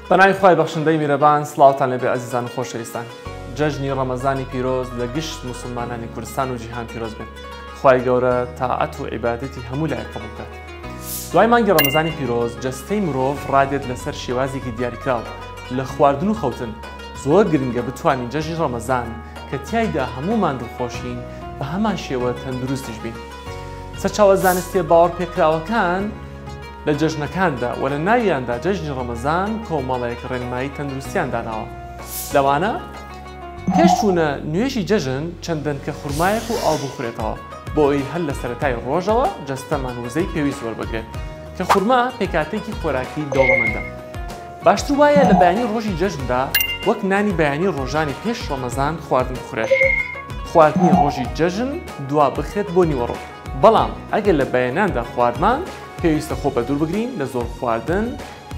بەناوی خی بەخشندەی میرەبان سلااوان لەبێ ئازیزان و خۆشەویستان جەژنی ڕەمەزانی پیرۆز لە گشت مسلمانانی کوردستان و جیهان پیرۆز بێت خی گەورە تاعەت و عیباەتی هەموو لای قبولکات دوای مانگی ڕەمەزانی پیرۆز جەستەی مرۆڤ ڕادێت لەسەر شێوازێکی دیاریکراو لە خواردن و خەوتن، زۆر گرنگە بتوانین جەژنی ڕەمەزان کە تیایدا هەموومان دڵخۆشین بە هەمان شێوە تەندروستیش بین. سەرچاوە زانستیە باوەڕپێکراوەکان لە جەژنەکاندا و لە ناویاندا جەژنی ڕەمەزان کۆمەڵێک ڕێنمایی تەندروستیان داناوە لەوانە. پێش چوونە نوێژی جەژن چەند دەنکە خورمایەک و ئاو بخورێتەوە بۆ ئەوی هەر لە سەرەتای ڕۆژەوە جەستەمان وزەی پێویست وەربگرێت کە خورما پێکاتێکی خۆراکی دەوڵەمەندە باشتر وایە لە بەیانی ڕۆژی جەژندا وەک نانی بەیانی ڕۆژانی پێش ڕەمەزان خواردن بخورێت خواردنی ڕۆژی جەژن دوا بخرێت بۆ نیوەڕۆ بەڵام ئەگەر لە بەیەناندا خواردمان پێویستە خۆ بەدوور بگرین لە زۆر خواردن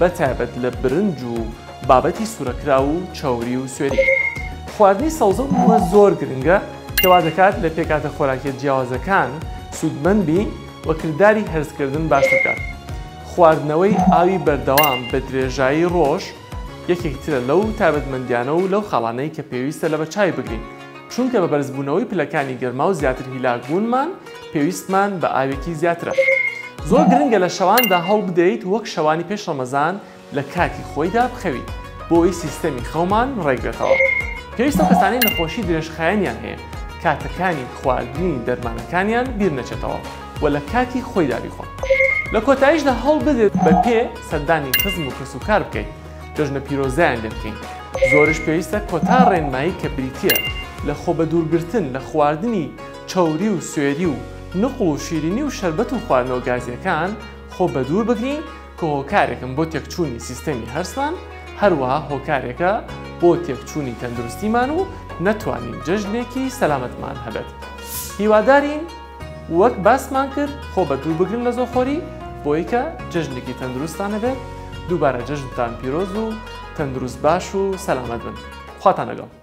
بە تایبەت لە برنج و بابەتی سورەکراو و چەوری و سوێری. خواردنی سەوزە و میوە زۆر گرنگە کە وا دەکات لە پێکهاتە خۆراکیە جیاوازەکان سوودمەند بین و کرداری هەرسکردن باشتر بکات. خواردنەوەی ئاوی بەردەوام بە درێژایی ڕۆژ یەکێک ترە لەو تایبەتمەندیانە و لەو خاڵانەی کە پێویستە لە بە چاوی بگرین چونکە بە بەرزبوونەوەی پلەکانی گەرما و زیاتر هیلاک بوونمان پێویستمان بە ئاوێکی زیاترە. زۆر گرنگە لە شەواندا هەوڵبدەیت وەک شەوانی پێش ڕەمەزان لە کاتی خۆیدا بخەویت بۆ ئەوەی سیستەمی خەومان ڕێکبێتەوە. پێویستە ئەو کەسانەی نەخۆشی درێژخایەنیان هەیە کاتەکانی خواردنی دەرمانەکانیان بیرنەچێتەوە و لە کاتی خۆیدا بیخۆن. لە کۆتاییشدا هەوڵبدەیت بە پێ سەردانی خزم و کەسوکار بکەیت جەژنە پیرۆزیان لێ بکەین. زۆرش پێویستە کۆتا ڕێنمایی کە بریتییە لە خۆبەدوورگرتن لە خواردنی. چەوری و سوێری و نقڵ و شیرینی و شەربەت و خواردنەوە گازییەکان خۆ بەدوور بگرین کە هۆکارێکن بۆ تێکچوونی سیستەمی هەرسمان هەروەها هۆکارێکە بۆ تێکچوونی تەندروستیمان و نەتوانین جەژنێکی سەلامەتمان هەبێت هیوادارین وەک باسمان کرد خۆ بەدوور بگرن لە زۆخۆری بۆی کە جەژنێکی تەندروستتان هەبێت دووبارە جەژنتان پیرۆز و تەندروست باش و سەلامەت بن خواتان لەگەڵ.